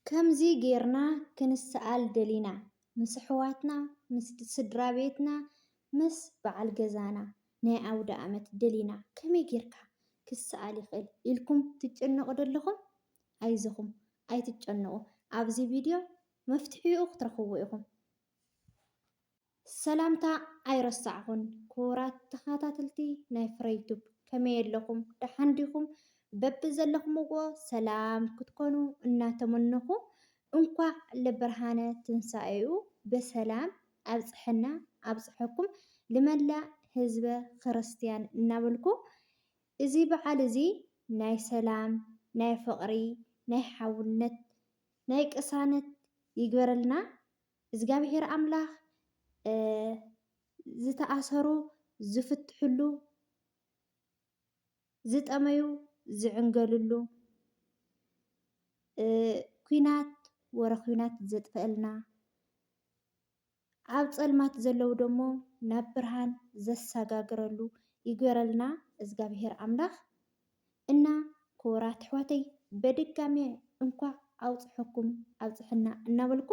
ከምዚ ጌርና ክንሰኣል ደሊና ምስ ኣሕዋትና ምስ ስድራቤትና ምስ በዓል ገዛና ናይ ኣውደኣመት ደሊና ከመይ ጌርካ ክሰኣል ይኽእል ኢልኩም ትጨነቁ ዶ ኣለኹም ኣይዞኹም ኣይትጨነቁ ኣብዚ ቪድዮ መፍትሒኡ ክትረኽብዎ ኢኹም። ሰላምታ ኣይረሳዕኹን ክቡራት ተኻታተልቲ ናይ ፍረይ ቱብ ከመይ ኣለኹም ደሓን ዲኹም በብዘለኹምዎ ሰላም ክትኮኑ እናተመነኹ እንኳዕ ለብርሃነ ትንሳኤኡ በሰላም ኣብፀሐና ኣብፀሐኩም ልመላእ ህዝበ ኽርስትያን እናበልኩ እዚ በዓል እዚ ናይ ሰላም ናይ ፍቕሪ ናይ ሓውነት ናይ ቅሳነት ይግበረልና እዝጋብሄር ኣምላክ ዝተኣሰሩ ዝፍትሕሉ ዝጠመዩ ዝዕንገልሉ ኩናት ወረ ኩናት ዘጥፈኣልና ኣብ ፀልማት ዘለዉ ደሞ ናብ ብርሃን ዘሳጋግረሉ ይግበረልና እዝጋብሄር ኣምላክ። እና ክቡራት ኣሕዋተይ በድጋሜ እንኳዕ ኣውፅሐኩም ኣብፅሐና እናበልኩ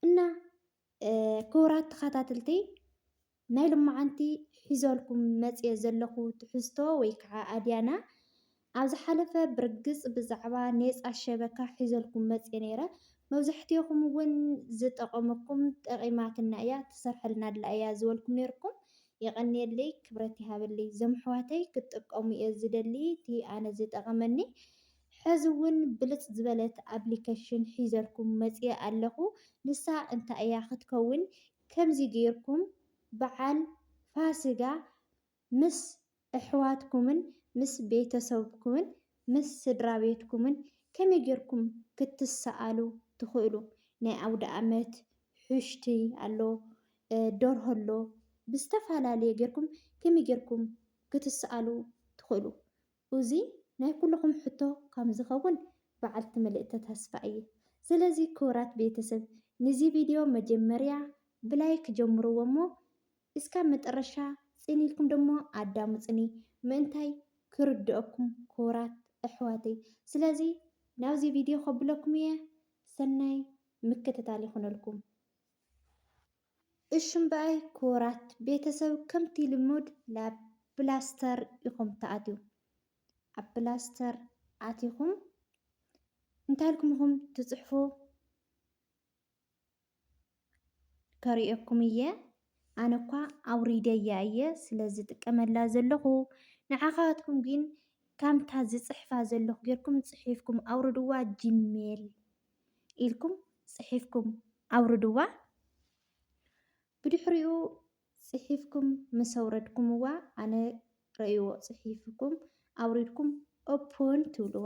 እና ክቡራት ተኸታተልተይ ናይ ልማዓንቲ ሒዘልኩም መፅየ ዘለኹ ትሕዝቶ ወይ ከዓ ኣድያና ኣብ ዝሓለፈ ብርግፅ ብዛዕባ ኔፃ ሸበካ ሒዘልኩም መፅየ ነይረ። መብዛሕትኦኹም እውን ዝጠቐመኩም ጠቒማትና እያ ትሰርሐልና ኣላ እያ ዝበልኩም ነይርኩም። የቀንየለይ ክብረት ይሃበለይ ዞምሕዋተይ ክትጥቀሙ እየ ዝደሊ እቲ ኣነ ዝጠቀመኒ ሐዚ እውን ብልፅ ዝበለት ኣብሊከሽን ሒዘልኩም መፅየ ኣለኩ ንሳ እንታይ እያ ክትከውን ከምዚ ገይርኩም በዓል ፋስጋ ምስ ኣሕዋትኩምን ምስ ቤተሰብኩምን ምስ ስድራቤትኩምን ከመይ ጌርኩም ክትሰኣሉ ትኽእሉ? ናይ ኣውደኣመት ሑሽቲ ኣሎ፣ ደርሆ ኣሎ፣ ብዝተፈላለየ ጌርኩም ከመይ ጌርኩም ክትሰኣሉ ትኽእሉ? ኡዚ ናይ ኩሉኹም ሕቶ ከም ዝኸውን በዓልቲ ምልእተ ተስፋ እየ። ስለዚ ክቡራት ቤተሰብ ንዚ ቪድዮ መጀመርያ ብላይክ ጀምርዎ እሞ እስካብ መጠረሻ ፅን ኢልኩም ደሞ ኣዳሙፅኒ ምእንታይ ክርደኦኩም ክቡራት ኣሕዋተይ ስለዚ ናብዚ ቪድዮ ከብለኩም እየ ሰናይ ምክትታል ይኩነልኩም። እሺ እምበኣይ ክቡራት ቤተሰብ ከምቲ ልሙድ ላብ ፕላስተር ኢኩም ትኣትው ኣብ ፕላስተር ኣቲኩም እንታይ ኢልኩም ኢኩም ትፅሕፉ ከርእየኩም እየ ኣነ እኳ ኣውሪደያ እየ ስለ ዝጥቀመላ ዘለኹ ንዓኻትኩም ግን ከምታ ዝፅሕፋ ዘለኹ ጌርኩም ፅሒፍኩም ኣውርድዋ ጂሜል ኢልኩም ፅሒፍኩም ኣውርድዋ ብድሕሪኡ ፅሒፍኩም ምስ ኣውረድኩምዋ ኣነ ረእይዎ ፅሒፍኩም ኣውሪድኩም ኦፕን ትብልዋ።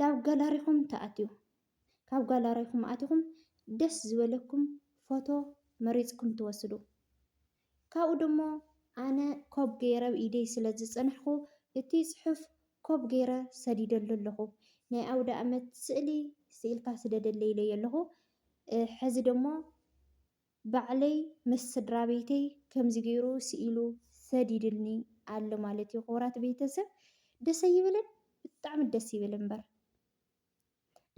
ናብ ጋላሪኹም ትኣትዩ። ካብ ጋላሪኹም ኣቲኹም ደስ ዝበለኩም ፎቶ መሪፅኩም ትወስዱ። ካብኡ ደሞ ኣነ ኮብ ገይረ ኣብ ኢደይ ስለ ዝፀናሕኹ እቲ ፅሑፍ ኮብ ገይረ ሰዲደሉ ኣለኹ። ናይ ኣውደኣመት ስእሊ ስኢልካ ስደደለይ ኢለዮ ኣለኹ። ሕዚ ደሞ ባዕለይ ምስ ስድራቤተይ ከምዚ ገይሩ ስኢሉ ሰዲድኒ ኣሎ ማለት እዩ። ክቡራት ቤተሰብ ደስ ኣይብልን? ብጣዕሚ ደስ ይብል እምበር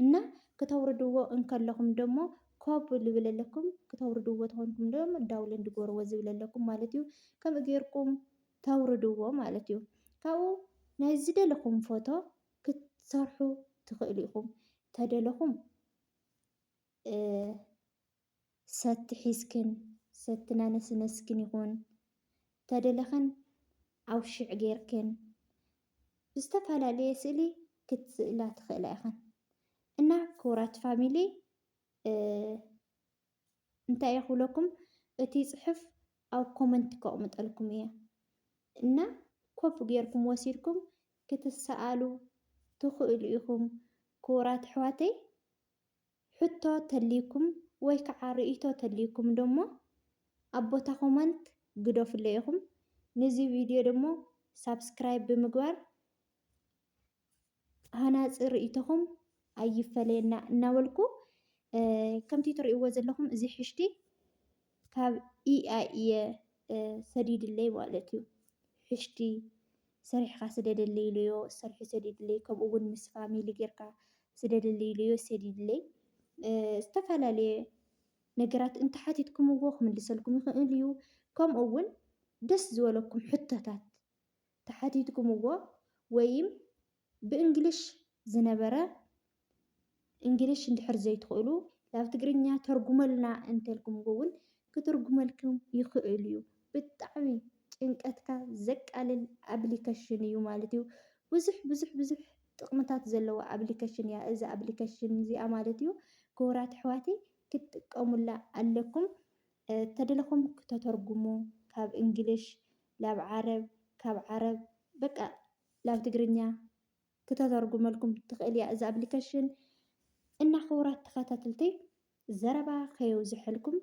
እና ክተውርድዎ እንከለኹም ደሞ ኮብ ዝብለለኩም ክተውርድዎ ተኾንኩም ዶ ዳውለን ድጎርዎ ዝብለለኩም ማለት እዩ ከምኡ ጌርኩም ተውርድዎ ማለት እዩ ካብኡ ናይ ዝደለኹም ፎቶ ክትሰርሑ ትኽእሉ ኢኹም ተደለኹም ሰቲ ሒዝክን ሰቲ ናነስነስክን ይኹን ተደለኽን ኣውሽዕ ጌርክን ብዝተፈላለየ ስእሊ ክትስእላ ትኽእላ ኢኽን እና ክቡራት ፋሚሊ እንታይ እየ ክብለኩም እቲ ፅሑፍ ኣብ ኮመንት ከቕምጠልኩም እየ እና ኮፍ ጌርኩም ወሲድኩም ክትሰኣሉ ትኽእሉ ኢኹም ክቡራት ኣሕዋተይ ሕቶ ተልዩኩም ወይ ከዓ ርእይቶ ተልዩኩም ደሞ ኣብ ቦታ ኮመንት ግደፉለይ ኢኹም። ንዚ ቪድዮ ደሞ ሳብስክራይብ ብምግባር ሃናፂ ርእይቶኹም ኣይፈለየና እናበልኩ ከምቲ ትርእይዎ ዘለኹም እዚ ሕሽቲ ካብ ኢኣይ እየ ሰዲድለይ ማለት እዩ። ሕሽቲ ሰሪሕኻ ስደደለይ ኢለዮ ሰሪሑ ሰዲድለይ። ከምኡ እውን ምስ ፋሚሊ ጌርካ ስደደለይ ኢለዮ ሰዲድለይ። ዝተፈላለየ ነገራት እንተሓቲትኩምዎ ክምልሰልኩም ይኽእል እዩ። ከምኡ እውን ደስ ዝበለኩም ሕቶታት ተሓቲትኩምዎ ወይም ብእንግሊሽ ዝነበረ እንግሊሽ እንድሕር ዘይትኽእሉ ናብ ትግርኛ ተርጉመልና እንተልኩምዎ እውን ክትርጉመልኩም ይኽእል እዩ። ብጣዕሚ ጭንቀትካ ዘቃልል ኣፕሊከሽን እዩ ማለት እዩ። ብዙሕ ብዙሕ ብዙሕ ጥቕምታት ዘለዋ ኣፕሊከሽን እያ እዛ ኣፕሊከሽን እዚኣ ማለት እዩ። ክቡራት ኣሕዋተይ ክትጥቀሙላ ኣለኩም። ተደለኹም ክተተርጉሙ ካብ እንግሊሽ ናብ ዓረብ ካብ ዓረብ በቃ ላብ ትግርኛ ክተተርጉመልኩም ትክእል እያ እዛ ኣብሊከሽን እና ክቡራት ተከታተልተይ ዘረባ ከየብዘሐልኩም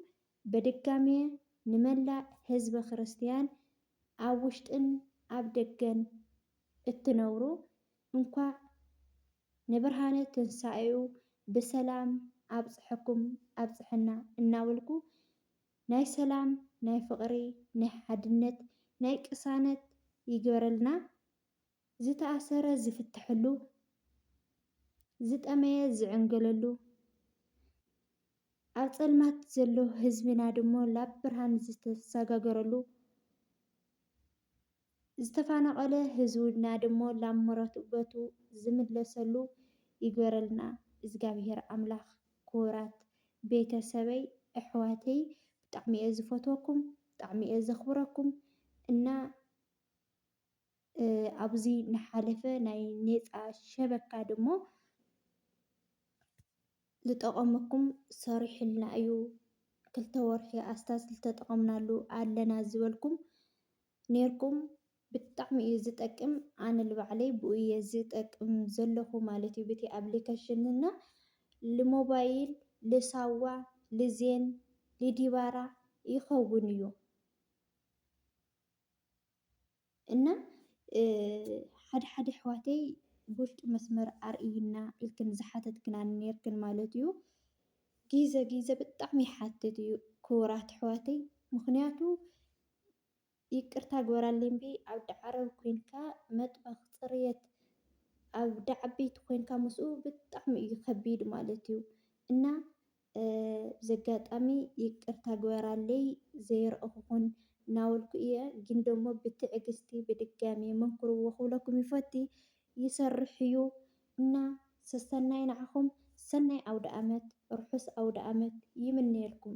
በድጋሜ ንመላእ ህዝበ ክርስትያን ኣብ ውሽጥን ኣብ ደገን እትነብሩ እንኳዕ ንብርሃነ ትንሳኤኡ ብሰላም ኣብፀሐኩም ኣብፀሐና እናበልኩ ናይ ሰላም ናይ ፍቅሪ ናይ ሓድነት ናይ ቅሳነት ይግበረልና ዝተኣሰረ ዝፍተሐሉ ዝጠመየ ዝዕንገለሉ ኣብ ፀልማት ዘሎ ህዝብና ድሞ ላብ ብርሃን ዝተሳጋገረሉ ዝተፋናቀለ ህዝውና ድሞ ላብ መረበቱ ዝምለሰሉ ይግበረልና እዝጋብሄር ኣምላክ ክቡራት ቤተ ሰበይ እሕዋተይ ብጣዕሚ እየ ዝፈትወኩም ብጣዕሚ እየ ዘክብረኩም እና ኣብዚ ናሓለፈ ናይ ኔፃ ሸበካ ድሞ ልጠቐመኩም ሰሪሑልና እዩ ክልተ ወርሒ ኣስታት ልተጠቐምናሉ ኣለና ዝበልኩም ኔርኩም ብጣዕሚ እዩ ዝጠቅም ኣነ ልባዕለይ ብኡ እየ ዝጠቅም ዘለኹ ማለት እዩ ብቲ ኣፕሊከሽን እና ልሞባይል ልሳዋ ልዜን ልዲባራ ይኸውን እዩ። እና ሓደ ሓደ ኣሕዋተይ ብውሽጢ መስመር ኣርእይና ኢልክን ዝሓተትክና ነርክን ማለት እዩ። ጊዘ ጊዘ ብጣዕሚ ይሓትት እዩ ክቡራት ኣሕዋተይ። ምክንያቱ ይቅርታ ግበራለይ እምቢ ኣብ ዳዓረብ ኮንካ መጥበክ ፅርየት ኣብ ዳዓበይቲ ኮንካ ምስኡ ብጣዕሚ እዩ ከቢድ ማለት እዩ እና በዚ ኣጋጣሚ ይቅርታ ግበራለይ ዘይረእኹኹን ናበልኩ እየ ግን ደሞ ብትዕግስቲ ብድጋሜ መንክርዎ ክብለኩም ይፈቲ ይሰርሕ እዩ እና ሰሰናዩ ንዓኹም ሰናይ ኣውደኣመት ርሑስ ኣውደኣመት ይምነየልኩም።